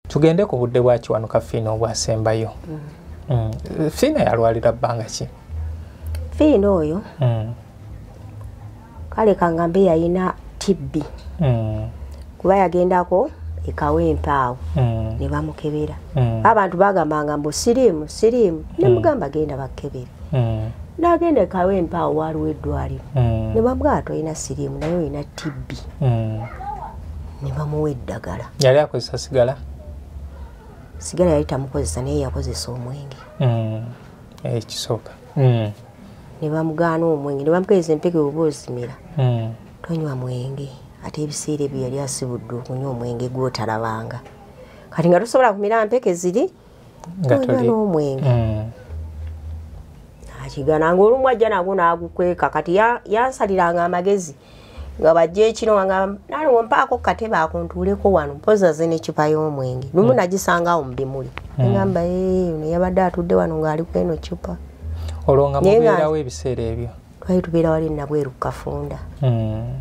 tugende ku budde bwa kiwanuka fiina obwasembayo mm. mm. fiina yalwalira bbanga ki fiina oyo mm. kale kangambe yalina tibbi kuba yagendako ekawa empaawo ne bamukebera abantu bagambanga mbu siriimu siriimu nemugamba genda bakebere nagenda ekawa empaawo waliwo eddwaliro ne bamugamba tolina siriimu naye olina tibbi ne bamuwa eddagala yali akozesa sigala sigala yali tamukozesa naye yakozesa omwenge mm. ekisooka eh, mm. ne bamugaana omwenge ne bamupeeza empeke oba ozimira mm. tonywa mwenge ate ebiseera ebyo yali asibudde okunywa omwenge gwotalabanga kati nga tosobola kumira mpeke ziri gatuli omwenge mm. akigana nga olumu ajja nago nagukweka kati yansaliranga amagezi nga bajja ekiro wanga naliwo mpaako katebe akuntuuleko wano mpozi aze necupa y'omwenge lumu mm. nagisanga awo mubimuli mm. ngamba ono yabadde atudde wano ngaali kweno cupa olwo nga mubeerawo ebiseera ebyo twali tubeera wali nabweru kukafunda mm.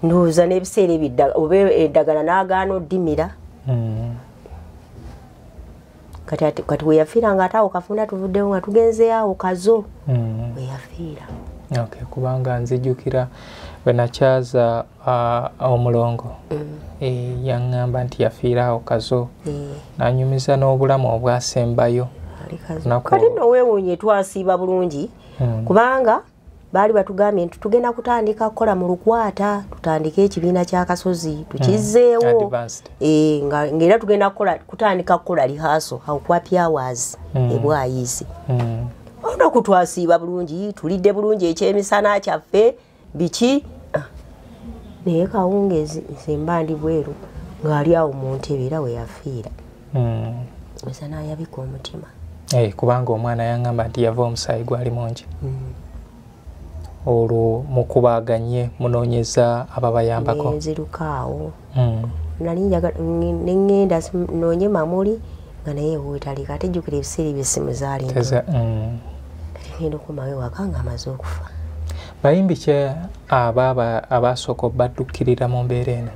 ndowooza n'ebiseera ebiddala oba eddagala n'agaana oddimira hmm. kati weyafiira nga ate awo kafunda tuvuddewo nga tugenze awo kazo hmm. weyafiira kubanga nzijukira bwenakyaza uh, omulongo hmm. e, yaŋŋamba nti yafiira awo kazo nanyumiza n'obulamu obwasembayo kati nowewunye twasiiba bulungi kubanga baali batugambye nti tugenda kutandika kukola mu lukwata tutandike ekibiina kyakasozi tukizzeewo mm. eh, ngaera tugenda kutandika kukola lihaso aukwapyawas mm. ebwayizi mm. olunaku twasiiba bulungi tulidde bulungi ekyemisana kyaffe biki ah. naye kawungezi nzemba ndi bweru ngaali awo mu ntebe era weyafiira mm. esa nayabika omutima hey, eh, kubanga omwana yangamba nti yava omusaayi gwali mungi mm. olwo mukubaganye munonyeza ababayambako nzirukaawo mm. nali nengenda nonye mamuli nga naye wetalika ate jjukira ebiseera ebyesimu zaali mm. kati ngenda okumawo ewaka nga amaze okufa bayimbi kye abaasooka obaddukirira mu mbeera eno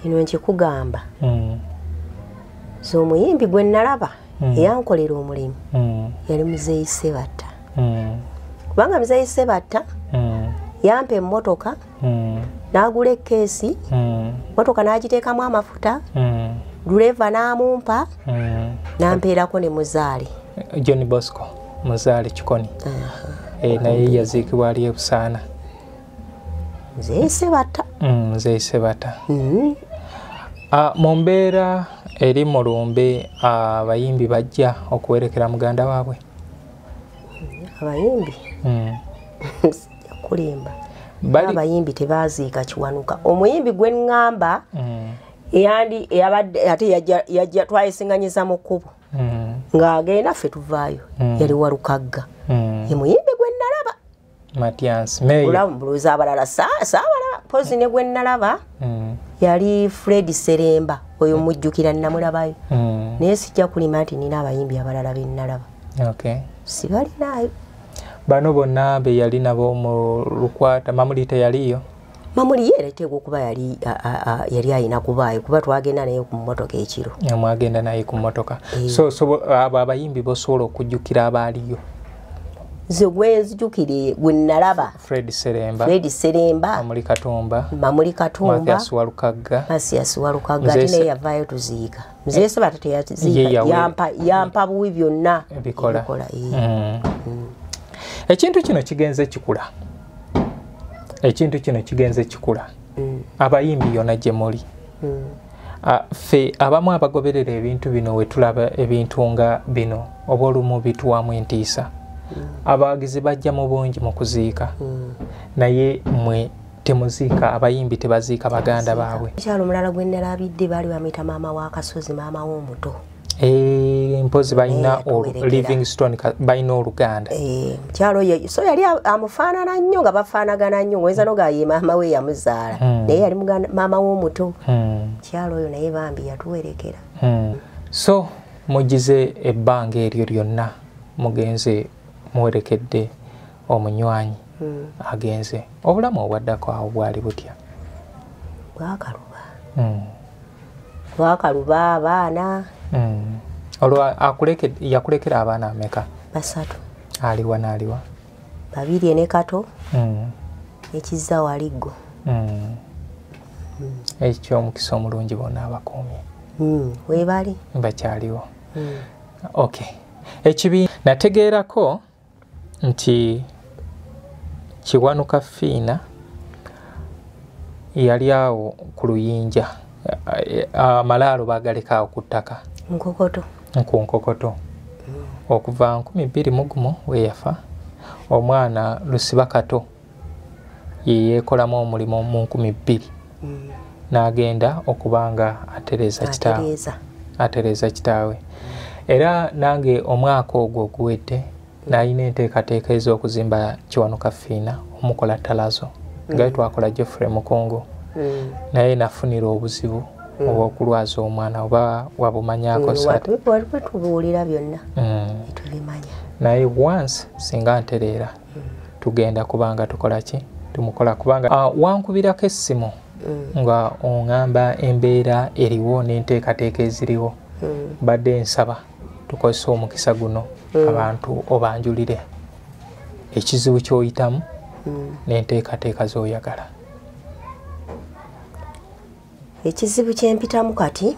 kino nkikugamba hmm. nze omuyimbi gwe nalaba hmm. eyankolera omulimu hmm. yali muzeeyi sebatta kubanga muzeeyi sebatta yampa emmotoka n'agula ekkeesi mmotoka n'agiteekamu amafuta duleeva n'amumpa n'ampeerako ne muzaale john bosco muzaale kikoni eh, naye yaziikibwa ali ebusaana nzeyise bata mm, nzeyise bata mm-hmm. ah, mu mbeera eri mu lumbe ah, abayimbi bajja okuwerekera muganda waabwe abayimbi mm. kulimba abayimbi tebaziika kiwanuka omuyimbi gwe ŋŋamba mm. eyandi eyabadde ate yajja twayesiŋanyiza mu kkubo ng'agenda ffe tuvaayo yali walukagga ye muyimbi matiansmulowooza abalala saabala pozi ne gwenalaba mm. yali fred seremba oyo mm. mujjukira namulabayo mm. naye sijja kulima nti nina abayimbi abalala benalaba sibalinayo bano bonna beyali nabo mu lukwata mamuli teyaliyo mamuli ye leteeka okuba yali yali ayina kubaayo kuba twagenda naye ku mmotoka ekiro mwagenda naye ku mmotoka eh. so abo abayimbi bosobola okujjukira abaaliyo nze gwenzijukire gwe nalaba fred seremba fred seremba mamuli katumba mamuli katumba masiasi walukagga masiasi walukagga ate naye yavaayo tuziika nze yesu bata teyaziyampa yampa buwi byonna bikola mm. mm. ekintu kino kigenze kikula ekintu kino kigenze kikula mm. abayimbi yona gyemuli mm. ffe abamu abagoberera ebintu bino wetulaba ebintu nga bino oba olumu bituwamu entiisa mm. abawagizi bajja mu bungi mu kuziika mm. naye mwe temuziika abayimbi tebaziika baganda baabwe mukyalo omulala gwe nalabidde baali bamuyita maama w'akasozi maama w'omuto eh, mpozi balina eh, livingston balina oluganda eh, mukyalo oyo so yali amufaanana nnyo nga bafaanagana nnyo oyinza noga ye maama we yamuzaala hmm. naye yali maama w'omuto mukyalo hmm. oyo naye bambi yatuwerekera hmm. so mugize ebbanga eryo lyonna mugenze muwerekedde omunywanyi hmm. agenze obulamu obwaddako awo bwali butya bwakaluba hmm. bwakaluba abaana hmm. olwo yakulekera abaana ameka basatu aliwa naaliwa babiri ene kato ekizza waliggo ekyo omukisa omulungi bona abakuumye webali bakyaliwo ok ekibi nategeerako nti kiwanuka fiina yali awo ku luyinja amalaalo bagaleka awo ku ttaka nkokoto ku nkokoto mm. okuva nkumi bbiri mugumu weyafa omwana lusiba kato yeyeekolamu omulimu mu nkumi bbiri mm. n'agenda okuba nga atereeza kitaawe atereeza kitaawe era nange omwaka ogwo oguwedde nalina enteekateeka ez'okuzimba kiwanuka fiina omukola talazo nga mm. twakola jeffrey mukongo mm. naye nafunira obuzibu mm. obwokulwaza omwana oba wabumanyako waliwo tubuulira byonna tubimanya naye once singa ntereera tugenda kubanga tukola ki tumukola kubanga ah, wankubirako essimu mm. nga ongamba embeera eriwo n'enteekateeka eziriwo mm. badde nsaba tukozesa omukisa guno mm. abantu obanjulire ekizibu kyoyitamu n'enteekateeka zoyagala ekizibu kyempitamu kati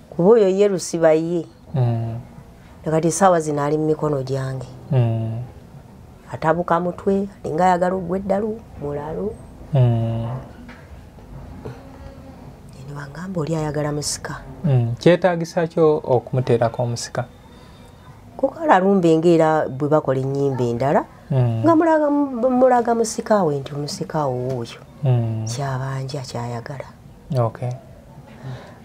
kuba oyo ye lusiba ye mm. nakati esaawa zino ali mu mikono gyange mm. atabuka mutwe alinga ayagala ogwa eddalu mulalu mm. newangamba oli ayagala musika kyetagisa kyo okumuteerako omusika kukala lumba engeera bwe bakola ennyimba endala nga mulaga musika we nti omusika owo oyo kyabanja kyayagala okay.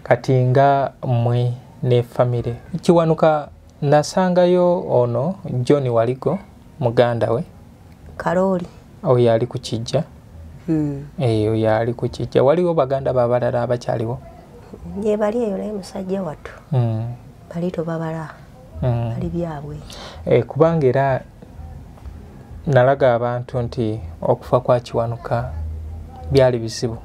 kati nga mwe ne famire kiwanuka nasangayo ono john waligo muganda we kalooli oyo ali ku kijja hmm. eyo eh, yali ku kijja waliwo baganda babalala abakyaliwo yebali eyo naye musajja wattu hmm. bali tobabala mm. ali byabwe eh, kubanga era nalaga abantu nti okufa kwa kiwanuka byali bizibu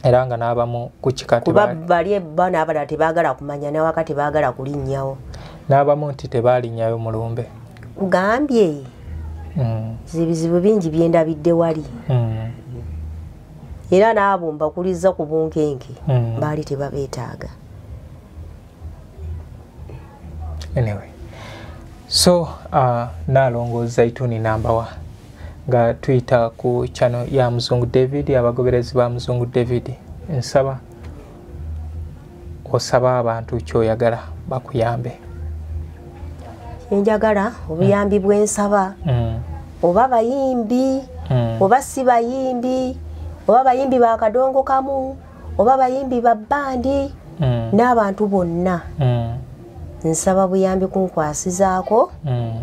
era nga n'abamu ku kikatikuba bali ebana abalala tebaagala kumanya nawaka tebaagala kulinnyawo n'abamu nti tebaalinnyayo mulumbe kugambye mm. zibizibu bingi byendabidde wali mm. era n'abo mbakuliza ku bunkenke mm. baali tebabeetaaga anyway so uh, nalongo zaituni nambawa nga tuyita ku chano ya muzungu david abagoberezi ba muzungu david nsaba osaba abantu kyoyagala bakuyambe enjagala obuyambi mm. bwensaba mm. oba bayimbi mm. oba si bayimbi oba bayimbi bakadongo kamu oba bayimbi ba bandi mm. n'abantu bonna mm. nsaba buyambi kunkwasizaako mm.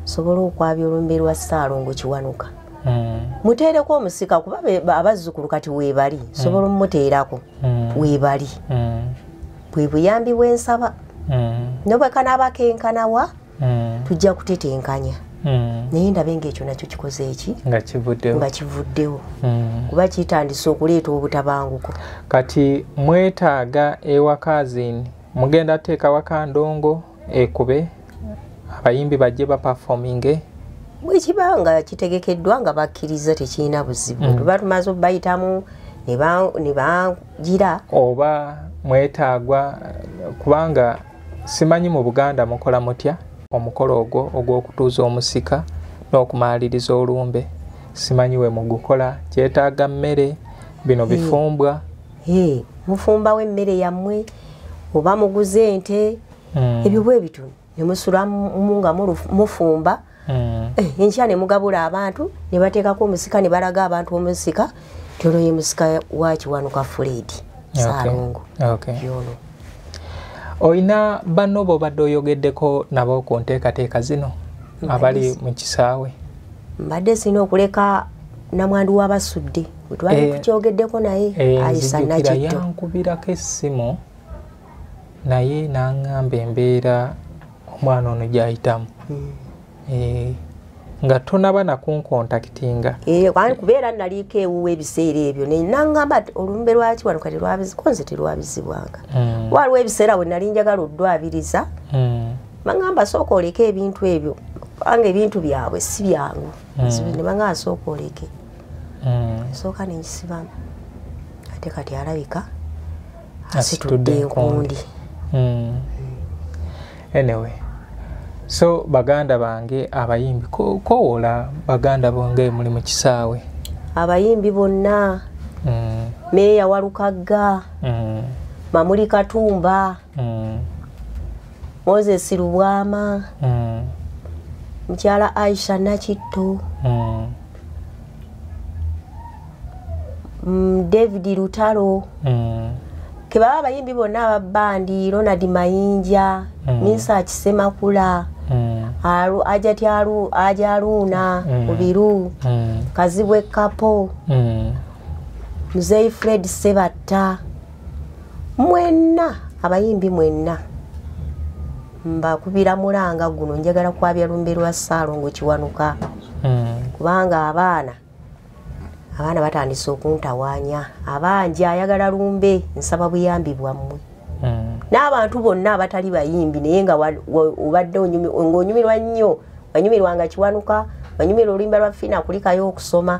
sobola okwabya olumbe lwa ssaalongo kiwanuka mm. muteereko omusika kuba abazzukulu kati weebali mm. sobola omumuteerako mm. weebali mm. bwe buyambi bwensaba mm. nobwekanaaba kenkanawa mm. tujja kutetenkanya mm. naye ndabe ngaekyo nakyo kikoze eki nga kivuddewo mm. kuba kitandise okuleeta obutabanguko kati mwetaaga ewakazin mugenda teeka wakandongo ekube abayimbi bajje baperfominge bwekiba nga kitegekeddwa nga bakkiriza tekirina buzibu mm. tuba tumaze obayitamu ne bagira oba mwetaagwa kubanga simanyi mu buganda mukola mutya omukolo ogwo ogw'okutuuza omusika n'okumaaliriza olumbe simanyi we mugukola kyetaaga mmere bino bifumbwa mufumbawo emmere yammwe oba muguze ente hmm. ebyo bwe bityo ne musulamu nga mufumba mm. mm. eh, enkya ne mugabula abantu ne bateekako omusika ne balaga abantu omusika nti ono ye musika wa kiwanuka fuledi saalongo yono olina banno bobadde oyogeddeko nabo ku nteekateeka zino abali mu kisaawe mbadde sirina okuleka namwandu wabasudde wetwali eh, tukyogeddeko naye eh, ayisa nakitto yankubirako essimu naye nangamba embeera omwana ono gyayitamu hmm. eh, nga tonaba nakunkontaktinga eh, kubeera naliiko ewuwa ebiseera ebyo naye nangamba olumbe lwaki wano kati lwabiziko nze terwabizibwanga hmm. waliwo ebiseera we nali njagala oddwabiriza hmm. bangamba sooka oleke ebintu ebyo kubanga ebintu byabwe si byangu nebanga asooka oleke mm. nsooka nengisibam ate kati alabika asitudde enkundi mm. anyway so baganda bange abayimbi kowola baganda bonge muli mu kisaawe abayimbi bonna mm. meeya walukagga mm. mamuli katumba mm. moses lubwama mm. mukyala aisha nakitto mm. mm, david lutalo mm. kebaba abayimbi bonna ababandi ronald mayinja mm. minsa kisemakula mm. ajaluuna mm. mubiru mm. kazibwe kapo mm. muzeyi fred sebatta mwenna abayimbi mwenna mbakubira mulanga guno njagala kwabya lumbe lwa saalongo kiwanuka hmm. kubanga abaana abaana batandise okuntawanya abangi ayagala lumbe nsaba buyambi bwammwe hmm. n'abantu bonna abatali bayimbi naye nga obadde ngaonyumirwa nnyo wanyumirwa nga kiwanuka wanyumirwa oluyimba lwa fiina kulikayo okusoma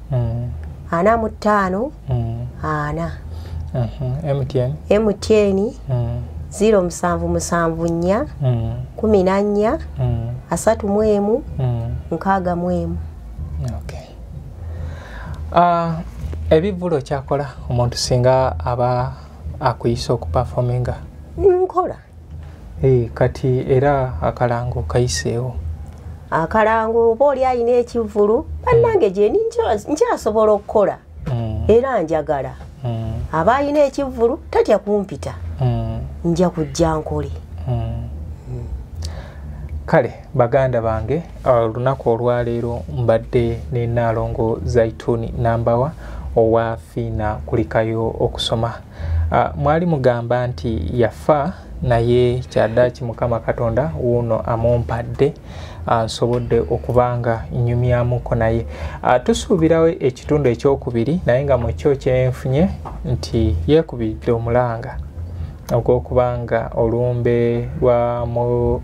mm. ana mu ttaano mm. ana mtn mm-hmm. mtn mm. ziro musanvu musanvu nnya mm. kumi na nnya mm. asatu mu emu mm. nkaaga mu emu okay. uh, ebivvulu kyakola omuntu singa aba akuyise okupafominga nkola Eh, kati era akalango kayiseewo akalango oba oli alina ekivulu bannange gyeni nkyasobola okukola mm. era njagala mm. aba alina ekivulu tatya kumpita mm. nja kujja nkole kale baganda bange olunaku olwaleero mbadde ne naalongo zaituni nambawa owa fiina kulikayo okusoma Ah, mwali mugamba nti yafa naye kyadaki mukama katonda wuuno amumpadde ah, nsobodde okuba nga nyumyamuko naye ah, tusuubirawo ekitundu ekyokubiri naye nga mukyo kyenfunye nti yekubidde omulanga ogwokuba nga olumbe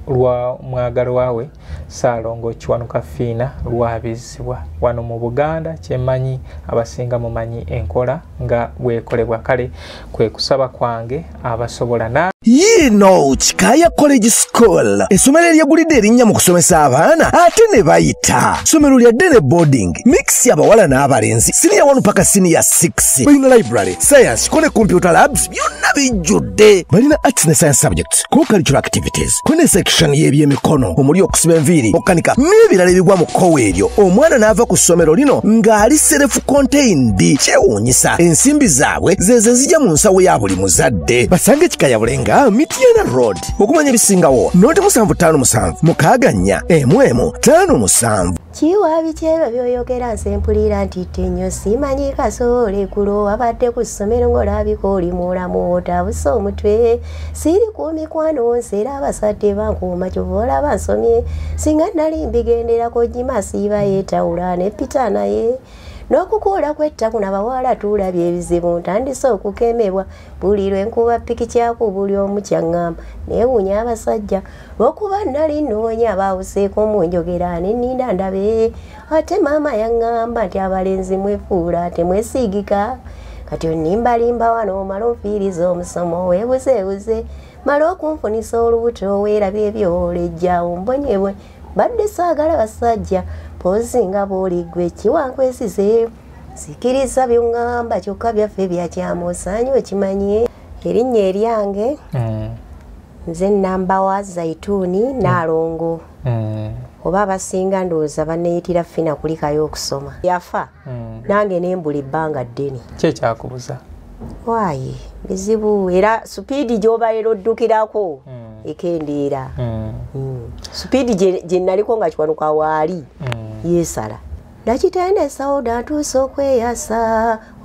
lwa mwagalwawe Ssaalongo Kiwanuka Fiina lwabizzibwa wano mu Buganda kyemanyi abasinga mumanyi enkola nga bwekolebwa kale kwe kusaba kwange abasobola na yiino kikaaya college school essomero eryegulidde erinnya mu kusomesa abaana ate ne bayita ssomero lya dene boarding mix abawala n'abalenzi siniya 1 paka siniya 6 balina library science ko ne computer labs byonna bijjudde balina arts ne science subjects co-cultural activities kune section y'ebyemikono omuli okusiba enviiri okukanika n'ebirala ebigwa mu kkowa eryo omwana n'ava ku ssomero lino ng'ali serefu contained kyewuunyisa ensimbi zaabwe zezo zijja mu nsawo ya buli muzadde basange kikayabule nga mityana road okumanya ebisingawo noti musanvu ttaano musanvu mukaaga nnya emu emu ttaano musanvu kiwaabi kyebyo byoyogera nze mpulira nti tenyo simanyi kasoole kulo wabadde ku ssomero ng'olabika oli mulamu otabuse omutwe siri ku mikwano nsi era abasajja bankuuma kyova olaba nsomye singa nali mbigenderako gimasiiba yetawula ne pita naye n'okukuula kwettaku nabawala tuulabye ebizibu ntandise okukemebwa buli lwe nkuba piki kyaku buli omu kyaŋŋamba neewuunya abasajja lwokuba nali nnoonya baawuseeko mu njogera nenninda ndabe ate maama yaŋŋamba nti abalenzi mwefuula temwesiigika kati onimbalimba wano omala onfiiriza omusomo weebuzeebuze mala okunfunisa olubuto weerabi ebyolejja ombonyebwe mbadde saagala basajja poozi nga bw'oliggwe kiwankwesize sikiriza byongamba kyokka byaffe byakyamu osaanye okimanye erinnya eryange mm. nze namba wa zaituuni mm. naalongo mm. oba abasinga ndowooza baneyitira fina kulikayo okusoma yafa nange nembula ebbanga ddene kyekyakubuza waayi bizibu era supiidi gyobaera oddukirako ekendeera supiidi gye naliko nga kiwanuka waali yesala nakitende sauda ntuusa okweyasa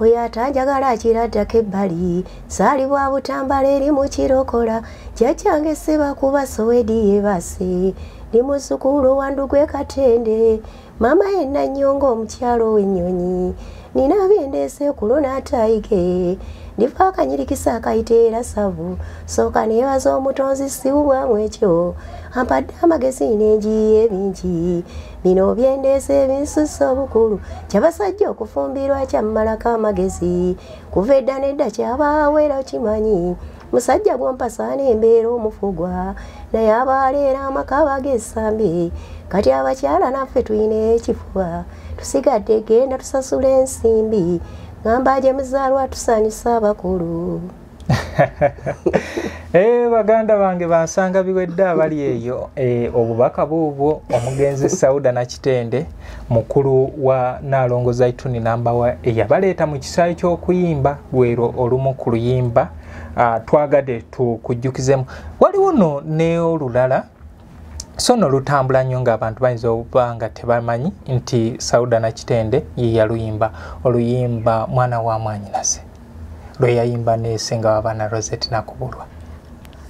oyo atanjagala akiraddako ebbali saali bwa butambala eri mukirokola kyakyange sebakuba sowedi yebase ndi muzukulu wandu gwe katende maama yenna nnyo ng'omukyalo w'ennyonyi nina byendeese kulo n'ataayige ndifa akanyirikisa akayita era savu sooka neebaza omutonzi siwubwamu ekyo ampadde amagezi n'enjiyi ebingi bino byendeesa ebinsusa obukulu kyabasajja okufumbirwa kyammalako amagezi kuva edda nedda kyabaawo era okimanyi musajja gwompasaana embeera omufugwa naye abaaleera amaka bagesambi kati abakyala naffe tulina ekifuba tusigadde genda tusasula ensimbi ngamba gye muzaalwa tusanyusa abakulu Eh, baganda bange bansanga biwedde abali eyo eh, obubaka buubwo omugenzi sauda nakitende mukulu wa naalongo zaituni nambawa eyabaleeta mu kisaayi ky'okuyimba lwero olumu ku luyimba ah, twagade tukujjukizemu waliwo no neolulala so no lutambula nnyo ng'abantu bayinza okuba nga tebamanyi nti sauda nakitende ye yaluyimba oluyimba mwana wa mwanyinaze lwe yayimba nesenga wabaana roset nakubulwa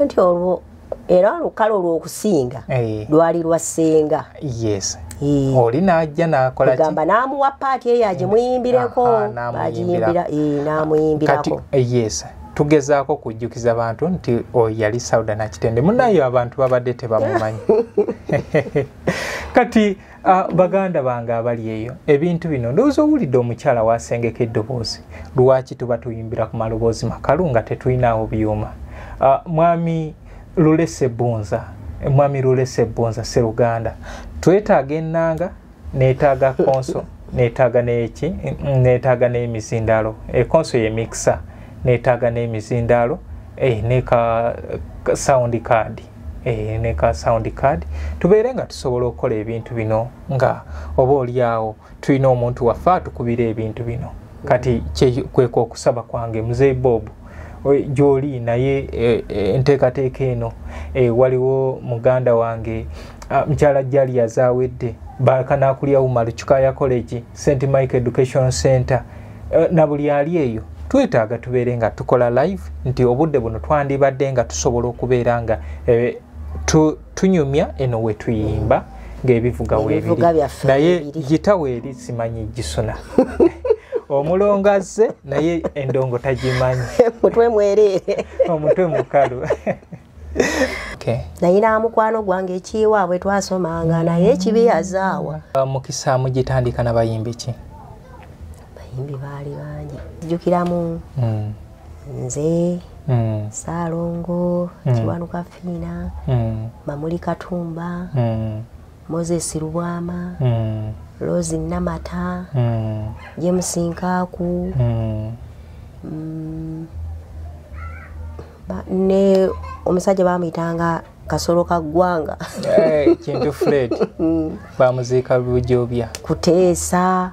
nti olwo era olukalo olwokusinga eh. lwali lwa senga yes Eh. oli najja nakolagamba namuwa paati eyo agimuyimbireko eh. agiyimbira eh, namuyimbirako yes tugezaako okujjukiza bantu nti oyo yali sauda nakitende munayo abantu babadde tebamumanyi kati uh, baganda bange abali eyo ebintu bino ndowooza owulidde omukyala wasengeka eddoboozi lwaki tuba tuyimbira ku maloboozi makalu nga tetulinawo byuma uh, mwami lulese bunza mwami lulese bunza seruganda twetaaga ennanga netaaga konso netaaga neki netaaga n'emizindaalo ekonso yemikisa netaaga n'emizindaalo eh, neka sound card eh, neka sound card tubeere nga tusobola okukola ebintu bino nga oba olyawo tulina omuntu waffe atukubira ebintu bino kati kwekokusaba kwange muzei bobu gyoli naye e, e, enteekateeka eno e, waliwo muganda wange mukyala jali yazawedde bakanakulya umaru kikaya college st mike education center na buli ali eyo twetaaga tubeere nga tukola live nti obudde buno twandibadde nga tusobola okubeera nga tunyumya eno wetuyimba ngaebivuga webiri naye gita weeri simanyi gisuna omulongo azze naye endongo tagimanyi mutwe mwereere omutwe mukalu naye namukwano gwange ekiwaabwe twasomanga naye ekibi yazaawa uh, mukisa mugitandika nabayimbi ki bayimbi baali bangi jukiramu hmm. nze mm. saalongo mm. kiwanuka fiina mm. mamuli katumba mm. moses lubwama mm. rosi namata mm. james nkaaku mm. mm. ne omusajja bamuyitanga kasolo ka ggwanga eh, kintu fred mm. bamuziika lujobya kuteesa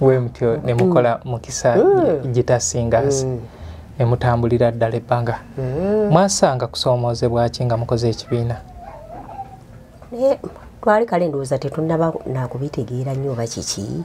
wemutyo mm. nemukola mukisa mm. gitasingaasi mm. nemutambulira ddala ebbanga mwasanga kusoomoozebwa ki nga mukoze ekibiina naye twali kale ndowooza tetunaba nakubitegeera nnyo oba kiki